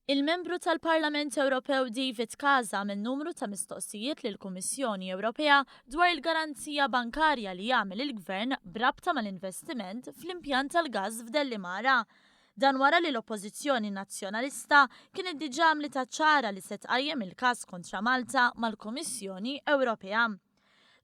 Il-Membru tal-Parlament Ewropew David Casa għamel numru ta' mistoqsijiet lill-Kummissjoni Ewropea dwar il-garanzija bankarja li għamel il-Gvern b'rabta mal-investiment fl-impjant tal-gass f'Dellimara. Dan wara li l-Oppożizzjoni Nazzjonalista kienet diġà għamlitha ċara li se tqajjem il-każ kontra Malta mal-Kummissjoni Ewropea.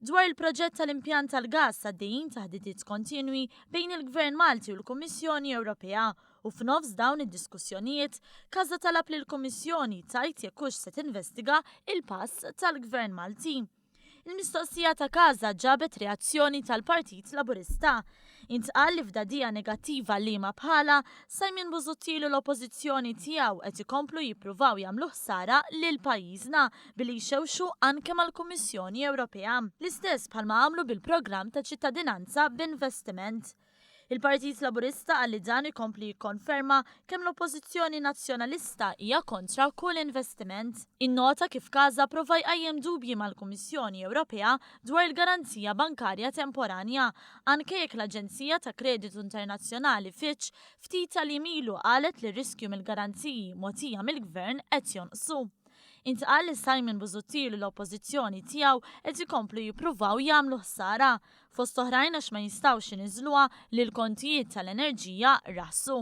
Dwar il-proġett tal-impjant tal-gass għaddejjin taħdidiet kontinwi bejn il-Gvern Malti u l-Kummissjoni Ewropea u f'nofs dawn id-diskussjonijiet Casa talab lill-Kummissjoni tgħid jekk hux se tinvestiga il-pass tal-Gvern Malti. Il-mistoqsija ta' Casa ġabet reazzjoni tal-Partit Laburista Intqal li f'dagħdija negattiva liema bħalha, Simon Busuttil u l-Oppożizzjoni tiegħu qed ikomplu jippruvaw jagħmlu ħsara lil pajjiżna billi jxewxu anke mal-Kummissjoni Ewropea. L-istess bħalma għamlu bil-programm ta' ċittadinanza b'investiment. Il-Partit Laburista qal li dan ikompli jikkonferma kemm l-Oppożizzjoni Nazzjonalista hija kontra kull investiment. Innota kif Casa prova jqajjem dubji mal-Kummissjoni Ewropea dwar il-garanzija bankarja temporanja anke jekk l-aġenzija ta' kreditu internazzjonali Fitch ftit tal-jiem ilu qalet li r-riskju mill-garanziji mogħtija mill-Gvern qed jonqsu. Intqal li Simon Busuttil u l-Oppożizzjoni tiegħu qed ikomplu jippruvaw jagħmlu ħsara, fost oħrajn għax ma jistgħux iniżżluha li l-kontijiet tal-enerġija raħsu.